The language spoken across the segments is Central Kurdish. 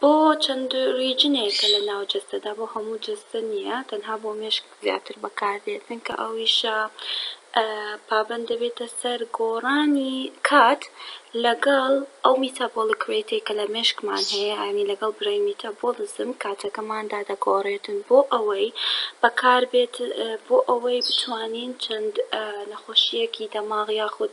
بۆ چەند ریجنێکە لە ناو جەستەدا بۆ هەموو جەستە نیە تەنها بۆ مێشک زیاتر بەکاردێت چونکە ئەویشە پابەند دەبێتە سەر گۆڕانی کات لەگەڵ ئەو میتابۆڵک رێتەی کە لە مێشکمان هەیە یانی لەگەڵ برەی میتابۆڵزم کاتەکەماندا دەگۆڕێتن بۆ ئەوەی بەکاربێت بۆ ئەوەی بتوانین چەند نەخۆشیەکی دەماغ یاخود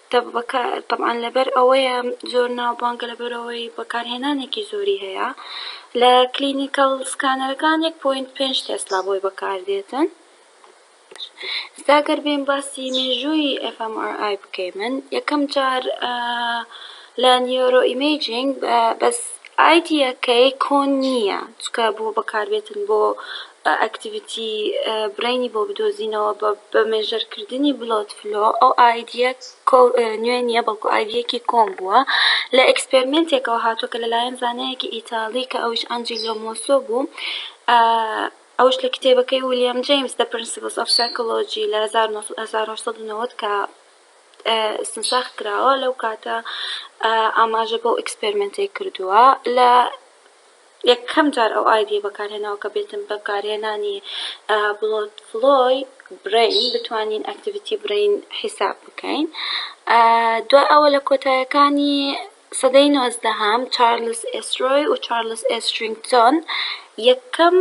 دەبکە تەبعەن لەبەر ئەوەیە زۆر ناوبانگە لەبەرئەوەی بەکارهێنانێکی زۆری هەیە لە کلینیکەڵ سکانەرەکان یەک پۆینت پێنج تێسلا بۆی بەکاردێتن ئێستا گەر بێم باسی مێژووی FMRI بکەیمن یەکەم جار لە نیۆرۆ ئیمەیجینگ بەس ئایدیەکەی کۆن نییە چکە بۆ بەکاربێتن بۆ ئەکتیڤیتی برەینی بۆ بدۆزینەوە بە بە مێژەر کردنی بلۆت فلۆ ئەو ئایدیە نوێ نییە بەڵکو ئایدیەکی کۆن بووە لە ئێکسپێرمێنتێکەوە هاتووە کە لەلایەن زانایەکی ئیتالی کە ئەویش ئەنجیلۆ مۆسۆ بوو ئەوش لە کتێبەکەی ولیام جەیمس دە پرنسیبڵس ئۆف سایکۆلۆجی لە هەزار و نۆ سەد هەزار و هەشت سەد و نەوەد کە ئیستنساخ کراوە لەو کاتە ئاماژە بەو ئیکسپێرمێنتەی کردووە لە یەکەم جار ئەو ئایدیە بەکارهێناوە کە بێتم بەکارهێنانی بڵۆت فلۆی برین بتوانین ئەکتیڤیتی برین حیساب بکەین دوا ئەوە لە کۆتایەکانی سەدەی نۆزدەهەم چارلز ئێسرۆی و چارلز ئێسترینگتۆن یەکەم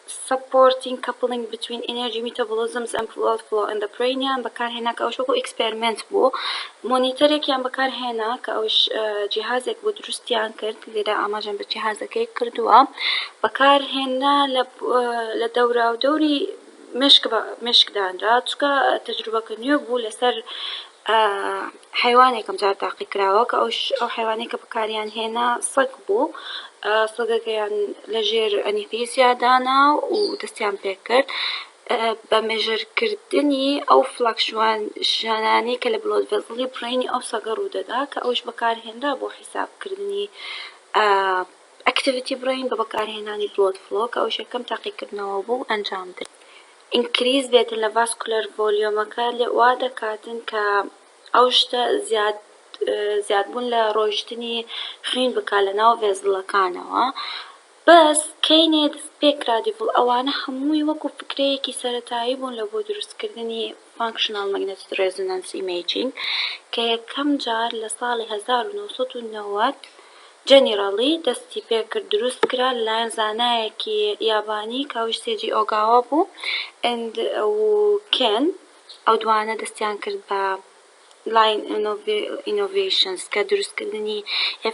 Supporting coupling between energy metabolisms and blood flow in the brain یان بەکارهێنا کە ئەوش وەکو ئیکسپێرمێنت بوو مۆنیتەرێکیان بەکارهێنا کە ئەوش جیهازێک بوو دروستیان کرد لێرە ئاماژەم بە جیهازەکەی کردووە بەکارهێنا لە دەوراودەوری مێشک مێشک دانرا چونکە تەجروبەکە نوێ بوو لەسەر حەیوانێک ئەمجار تاقی کراوە کە ئەوش ئەو حەیوانەی کە بەکاریان هێنا سەگ بوو سەگەکەیان لە ژێر ئەنیفیزیادانا و دەستیان پێ کرد بە مێژرکردنی ئەو فلاکشوان ژانانەی کە لە بڵۆد ڤێزڵی بڕینی ئەو سەگە ڕوودەدا کە ئەوش بەکارهێنرا بۆ حیسابکردنی ئەکتیڤیتی بڕین بە بەکارهێنانی بڵۆد فڵۆ کە ئەوش یەکەم تاقیکردنەوە بوو ئەنجام درا ئینکریز بێتن لە ڤاسکولەر ڤۆلیۆمەکە وا دەکاتن کە ئەو شتە زیاد زیادبوون لە ڕۆیشتنی خوین بکا لە ناو ڤێزڵەکانەوە بەس کەینێ دەست پێ کرا دیڤڵ ئەوانە هەمووی وەکو فکرەیەکی سەرەتایی بوون لە بۆ دروستکردنی فانکشناڵ مەگنەتیک ڕێزۆنانس ئیمەیجینگ کە یەکەم جار لە ساڵی هەزار و نۆ سەد و نەوەد جەنیراڵی دەستی پێکرد دروست کرا لەلایەن زانایەکی یابانی کاوش سێجی ئۆگاوا بوو and و کێن ئەو دوانە دەستیان کرد بە لاین ئینۆڤەیشنس کە دروست کردنی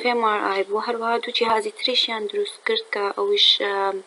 FMRI بوو هەروەها دوو جیهازی تریشیان دروست کرد کە ئەویش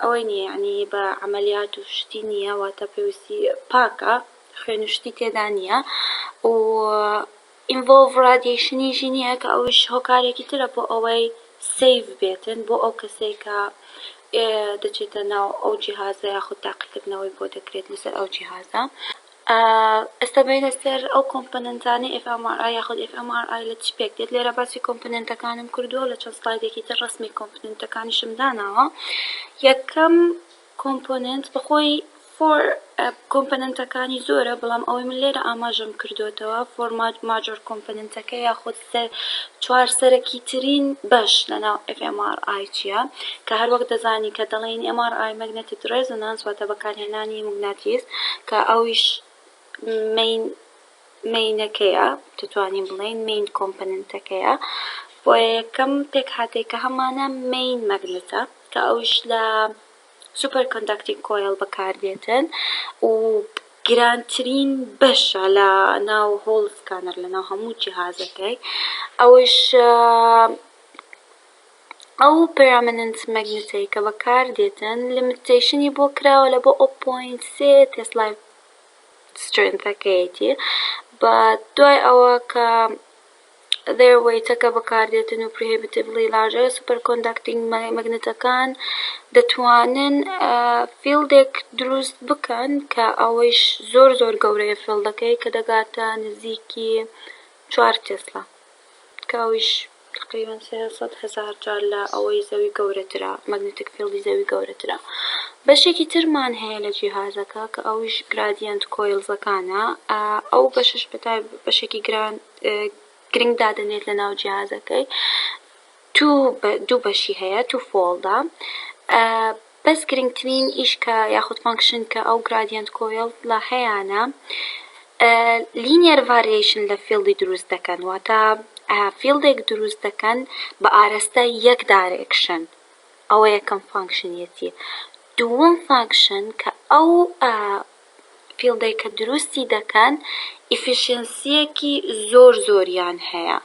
ئەوەی نیە یەعنی بە عەمەلیات و شتی نیە واتە پێویستی پاکە خوێن و شتی تێدا نیە و ئینڤۆڵڤ ڕادیەیشنیشی نیە کە ئەویش هۆکارێکی ترە بۆ ئەوەی سەیڤ بێتن بۆ ئەو کەسەی کە دەچێتە ناو ئەو جیهازە یاخود تاقیکردنەوەی بۆ دەکرێت لەسەر ئەو جیهازە. ئێستا بێینە سەر ئەو کۆمپۆنێنتانەی ئێف ئێم ئاڕ ئای یاخود ئێف ئێم ئاڕ ئای لە چ پێک دێت لێرە باسی کۆمپۆنێنتەکانم کردووە و لە چەند سڵایدێکی تر ڕەسمی کۆمپۆنێنتەکانیشم داناوە یەکەم کۆمپۆنێنت بەخۆی فۆر کۆمپۆنێنتەکانی زۆرە بەڵام ئەوەی من لێرە ئاماژەم کردۆتەوە فۆر ماجۆر کۆمپۆنێنتەکە یاخود سێ چوار سەرەکی ترین بەش لە ناو FMRI چیە کە هەر وەک دەزانی کە دەڵێین MRI Magnetic Resonance واتە بەکارهێنانی موگناتیس کە ئەویش مین مینەکەیە دەتوانین بڵێین مین کۆمپەننتەکەیە بۆیە یەکەم پێکهاتەی کە هەمانە مین مەگنتە کە ئەویش لە سوپەر کۆندەکتینگ کۆیڵ بەکاردێتن و گرانترین بەشە لە ناو هۆڵ سکانەر لە ناو هەموو جیهازەکەی ئەوش ئەو پەرامننت مەگنتەی کە بەکاردێتن لمتەیشنی بۆ کراوە لە بۆ ئەو پۆینت سێ تێسلای سترێنتەکەیەتی بە دوای ئەوە کە Other Weight-ەکە بەکاردێتن و Prohibitively Large Superconducting Magnet-ەکان دەتوانن فیڵدێک دروست بکەن کە ئەوەیش زۆر زۆر گەورەیە فیڵدەکەی کە دەگاتە نزیکی چوار تێسلا کە ئەویش تەقریبەن سێ سەد هەزار جار لە ئەوەی زەوی گەورەترە مەگنەتیک فیڵدی زەوی گەورەترە بەشێکی ترمان هەیە لە جیهازەکە کە ئەویش گرادیەنت کۆیڵزەکانە ئەو بەشەش بەتای بەشێکی گران گرنگ دادەنێت لە ناو جیهازەکەی تو دوو بەشی هەیە تو فۆڵدا بەس گرنگترین ئیش کە یاخود فانکشن کە ئەو گرادیەنت کۆیڵە هەیانە لینیەر ڤاریەیشن لە فیڵدی دروست دەکەن واتە فیڵدێک دروست دەکەن بە ئارەستە یەک دارێکشن ئەوە یەکەم فانکشنیەتی دووەم فانکشن کە ئەو فیڵدەی کە دروستی دەکەن ئیفیشێنسیەکی زۆر زۆریان هەیە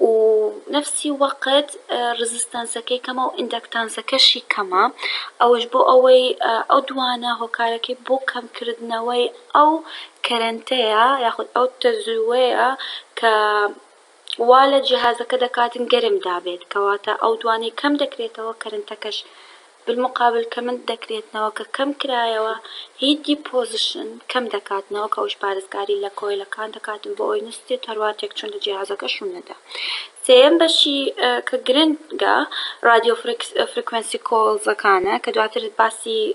و نەفسی وەقت ڕزستانسەکەی کەمە و ئیندەکتانسەکەشی کەمە ئەوەش بۆ ئەوەی ئەو دوانە هۆکارەکەی بۆ کەمکردنەوەی ئەو کەرەنتەیە یاخود ئەو تەزووەیە کە وا لە جیهازەکە دەکاتن گەرم دابێت کەواتە ئەو دوانەی کەم دەکرێتەوە کەرنتەکەش بالمقابل کەمن دەکرێتنەوە کە کەم کرایەوە هیت دیپۆزشن کەم دەکاتنەوە کە ئەوش پارێزگاری لە کۆیلەکان دەکاتن بۆ ئەوی نەستێت هەروا تێکچون لە جیهازەکە شون نەدا سێیەم بەشی کە گرنگە رادیۆ فرکس فرکوێنسی کۆڵزەکانە کە دواتر باسی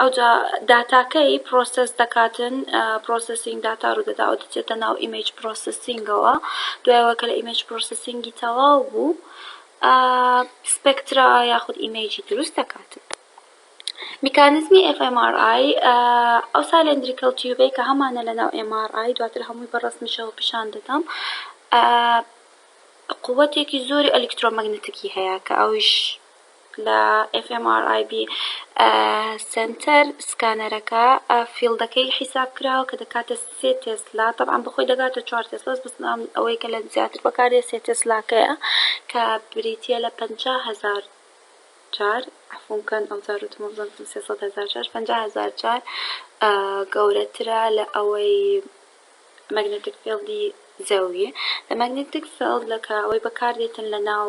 ئەوجا داتاکەی پرۆسێس دەکاتن پرۆسێسینگ داتا ڕوودەدا ئەو دەچێتە ناو ئیمەیج پرۆسێسینگەوە دوایەوە کە لە ئیمەیج پرۆسێسینگی تەواو بوو سپێکترا یاخود ئیمەیجی دروست دەکاتن میکانزمی FMRI ئەو سالندریکەڵ تیوبەی کە هەمانە لە ناو MRI دواتر هەمووی بە ڕەسمیشەوە پیشان دەدەم قووەتێکی زۆری ئەلیکترۆمەگنەتیکی هەیە کە ئەویش لە FMRIB سەنتەر سکانەرەکە فیڵدەکەی حیساب کراوە کە دەکاتە سێ تێسلا تەبعەن بەخۆی دەگاتە چوار تێسلاس بەس ئەوەی کە لە زیاتر بەکاردێ سێ تێسلاکەیە کە بریتیە لە پەنجا هەزار جار عەفوم بکەن ئەو جار وتم وابزانم سێ سەد هەزار جار پەنجا هەزار جار گەورەترە لە ئەوەی مەگنەتیک فیڵدی زەوی لە مەگنەتیک فیڵد لە کە ئەوەی بەکاردێتن لە ناو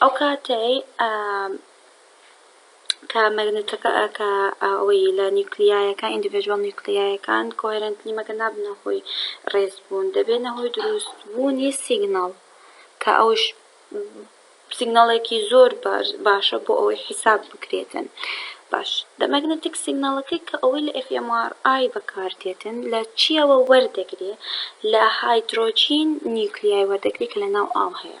ئەو کاتەی کە مەگنەتەکە کە ئەوەی لە نیوکلیایەکان ئیندیڤێژوەڵ نیوکلیایەکان کۆهێرێنتلی مەگە نابنە هۆی ڕێز بوون دەبێنە هۆی دروست بوونی سیگناڵ کە ئەوش سیگناڵێکی زۆر باشە بۆ ئەوەی حیساب بکرێتن باش دە مەگنەتیک سیگناڵەکەی کە ئەوەی لە FMRI بەکاردێتن لە چیەوە وەردەگرێ لە هایدرۆجین نیوکلیای وەردەگری کە لە ناو ئاو هەیە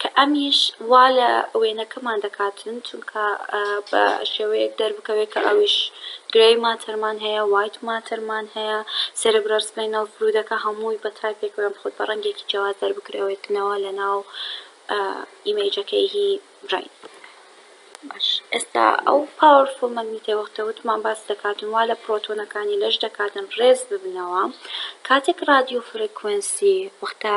کە ئەمیش وا لە وێنەکەمان دەکاتن چونکە بە شێوەیەک دەربکەوێت کە ئەویش گرەی ماتەرمان هەیە وایت ماتەرمان هەیە سێربرەل سپەینەڵ فلوودەکە هەمووی بە تایپێکەوە یان خود بە ڕەنگێکی جیاواز دەربکرەوێتنەوە لە ناو ئیمەیجەکەی هی برەین باش ئێستا ئەو پاوەرفوڵ مەگنیتەی وەختە وتمان باس دەکاتن وا لە پرۆتۆنەکانی لەش دەکاتن ڕێز ببنەوە کاتێک ڕادیۆ فرەکوێنسی وەختە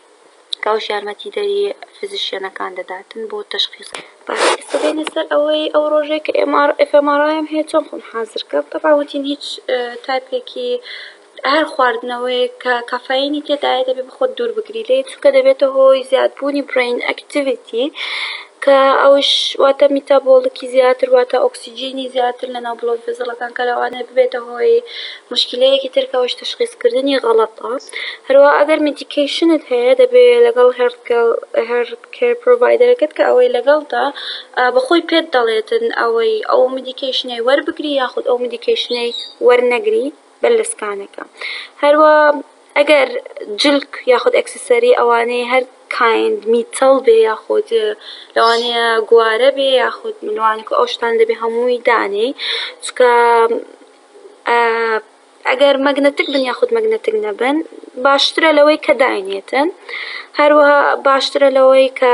کاوش یارمەتیدەری فزیشیەنەکان دەداتن بۆ تەشخیس. باشە ئێستا دێنە سەر ئەوەی ئەو ڕۆژەی کە ئێم ئاڕ ئێف ئێم ئاڕ ئایەم هەیە چۆن خۆم حازر کەم تەبعەن وتین هیچ تایپێکی هەر خواردنەوەیەک کە کافایینی تێدایە دەبێ بە خۆت دوور بگری لێی چونکە دەبێتە هۆی زیادبوونی برەین ئەکتیڤیتی کە ئەویش واتە میتابۆڵیکی زیاتر واتە ئۆکسجینی زیاتر لە ناو بڵۆی فێزەڵەکان کە لەوانەیە ببێتە هۆی موشکیلەیەکی تر کە ئەویش تەشخیسکردنی غەڵەتە هەروا ئەگەر میدیکەیشنت هەیە دەبێ لەگەڵ هێڵت کێڵ هێڵت کێر پرۆڤایدەرەکەت کە ئەوەی لەگەڵتە بە خۆی پێت دەڵێتن ئەوەی ئەو میدیکەیشنەی وەربگری یاخود ئەو میدیکەیشنەی وەرنەگری بەر لە سکانەکە هەروا ئەگەر جلک یاخود ئەکسسەری ئەوانەی هەر کایند میتەڵ بێ یاخود لەوانەیە گوارە بێ یاخود ملوانک و ئەو شتان دەبێ هەمووی دانێی چکە ئەگەر مەگنەتک بن یاخود مەگنەتک نەبن باشترە لەوەی کە داینێتن هەروەها باشترە لەوەی کە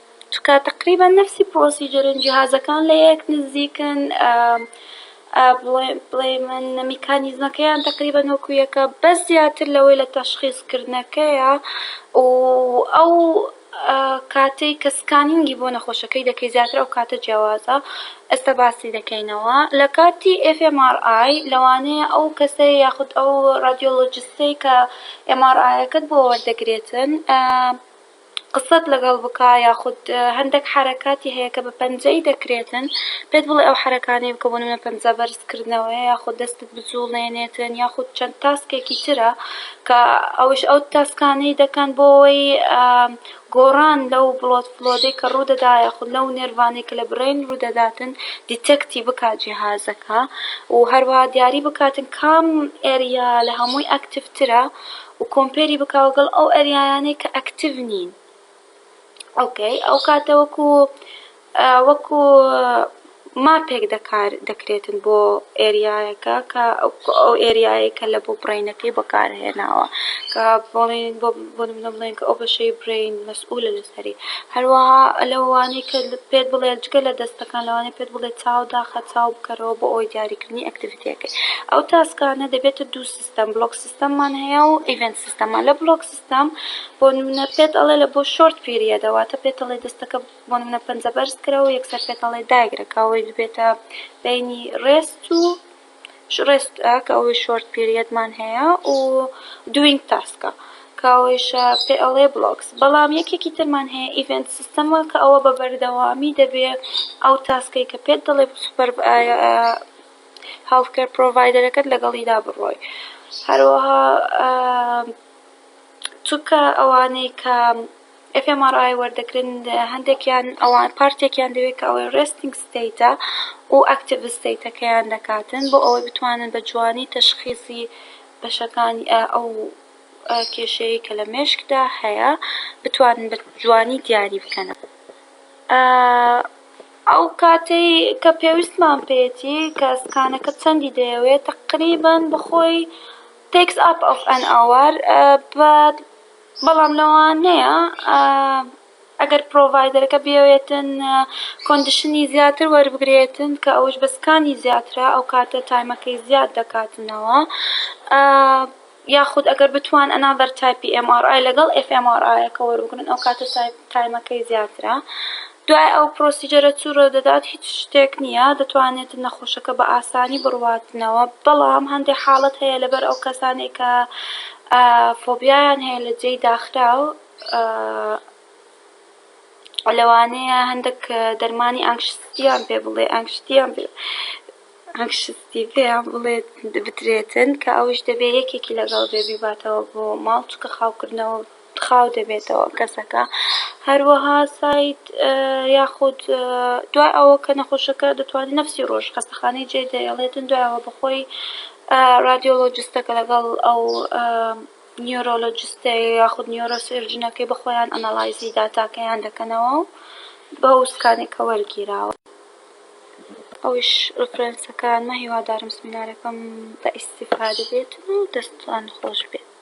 تکا تەقریبەن نەفسی پڕۆسیجەرن جیهازەکان لە یەک نزیکن بڵێمن میکانیزمەکەیان تەقریبەن وەکو یەکە بەس زیاتر لەوەی لە تەشخیس کردنەکەیە و ئەو کاتەی کە سکانینگی بۆ نەخۆشەکەی دەکەی زیاتر ئەو کاتە جیاوازە ئێستا باسی دەکەینەوە لە کاتی ئێف ئێم ئاڕ ئای لەوانەیە ئەو کەسەی یاخود ئەو ڕادیۆلۆجستەی کە ئێم ئاڕ ئایەکەت بۆ وەردەگرێتن قسەت لەگەڵ بکا یاخود هەندەک حەرەکاتی هەیە کە بە پەنجەی دەکرێتن پێت بڵێ ئەو حەرەکانەی بکە بۆ نمونە پەنجە بەرز کردنەوەیە یاخود دەستت بجوڵێنێتن یاخود چەند تاسکێکی ترە کە ئەوش ئەو تاسکانەی دەکەن بۆ ئەوەی گۆڕان لەو بڵۆد فلۆدەی کە ڕوودەدا یاخود لەو نێرڤانەی کە لە برەین ڕوودەداتن دیتێکتی بکا جیهازەکە و هەروەها دیاری بکاتن کام ئێریا لە هەمووی ئەکتیڤ ترە. و کۆمپێری بکە وەگەڵ ئەو ئەریایانەی کە ئەکتیڤ نین ئۆکەی ئەو کاتە وەکو وەکو ماپێک دەکار دەکرێتن بۆ ئێریایەکە کە ئەو ئێریایە کە لە بۆ بڕینەکەی بەکارهێناوە کە بڵێن بۆ بۆ نمونە بڵێن کە ئەو بەشەی برین مەسئولە لەسەری هەروەها لەوانەی کە پێت بڵێ جگە لە دەستەکان لەوانەیە پێت بڵێ چاو داخە چاو بکەرەوە بۆ ئەوەی دیاریکردنی ئەکتیڤیتیەکەی ئەو تاسکانە دەبێتە دوو سیستەم بلۆک سیستەممان هەیە و ئیڤێنت سیستەممان لە بلۆک سیستەم بۆ نمونە پێت ئەڵێ لە بۆ شۆرت پیریەدە واتە پێت ئەڵێ دەستەکە بۆ نمونە پەنجە بەرز کرە و یەکسەر پێت ئەڵێ دایگرە کە ئەوەی ببێتە بینی ڕێست و ڕێست کە ئەوەی شۆرت پیریەدمان هەیە و دوینگ تاسکە کە ئەوەیشە پێ ئەڵێ بلۆکس بەڵام یەکێکی ترمان هەیە ئیڤێنت سیستەمە کە ئەوە بە بەردەوامی دەبێ ئەو تاسکەی کە پێت دەڵێ سوپەر هێڵثکێر پرۆڤایدەرەکەت لەگەڵیدا بڕۆی هەروەها چونکە ئەوانەی کە FMRI وەردەگرن هەندێکیان ئەوان پارتێکیان دەوێت کە ئەوەی ڕێستنگ ستەیتە و ئەکتیڤ ستەیتەکەیان دەکاتن بۆ ئەوەی بتوانن بە جوانی تەشخیصی بەشەکانی ئەو کێشەیەی کە لە مێشکدا هەیە بتوانن بە جوانی دیاری بکەنە ئەو کاتەی کە پێویستمان پێیەتی کە سکانەکە چەندی دەیەوێت تەقریبەن بەخۆی تێکس ئاپ ئۆف ئەن ئەوەر بەڵام لەوانەیە ئەگەر پرۆڤایدەرەکە بیەوێتن کۆندیشنی زیاتر وەربگرێتن کە ئەوش بە سکانی زیاترە ئەو کاتە تایمەکەی زیاد دەکاتنەوە یاخود ئەگەر بتوان ئەنا بەر تایپی ئێم ئاڕ ئای لەگەڵ ئێف ئێم ئاڕ ئایەکە وەربگرن ئەو کاتە تایپ تایمەکەی زیاترە دوای ئەو پرۆسیجەرە چو رۆ دەدات هیچ شتێک نییە دەتوانێت نەخۆشەکە بە ئاسانی بڕواتنەوە بەڵام هەندێ حاڵەت هەیە لەبەر ئەو کەسانەی کە فۆبیایان هەیە لە جێی داخراو لەوانەیە هەندێک دەرمانی ئانکشتیان پێ بڵێ ئانکشتیان پێ ئەنکشسیڤەیە بڵێت بدرێتن کە ئەویش دەبێ یەکێکی لەگەڵ بێ بیباتەوە بۆ ماڵ چونکە خاوکردنەوە خاو دەبێتەوە کەسەکە هەروەها ساید یاخود دوای ئەوە کە نەخۆشەکە دەتوانێت نفسی ڕۆژ خەستەخانەی جێ دەێڵێتن دوایەوە بەخۆی ڕادیۆلۆجستەکە لەگەڵ ئەو نیۆرۆلۆجستە یاخود نیۆرۆ سێرجنەکەی بەخۆیان ئەنەڵایزی داتاکەیان دەکەنەوە بە ئەو سکانێکە وەرگیراوە. ئەویش ڕفرێنسەکانمە هیوادارم سمینارەکەم بە ئیستیفادە بێتن و دەستان خۆش بێت.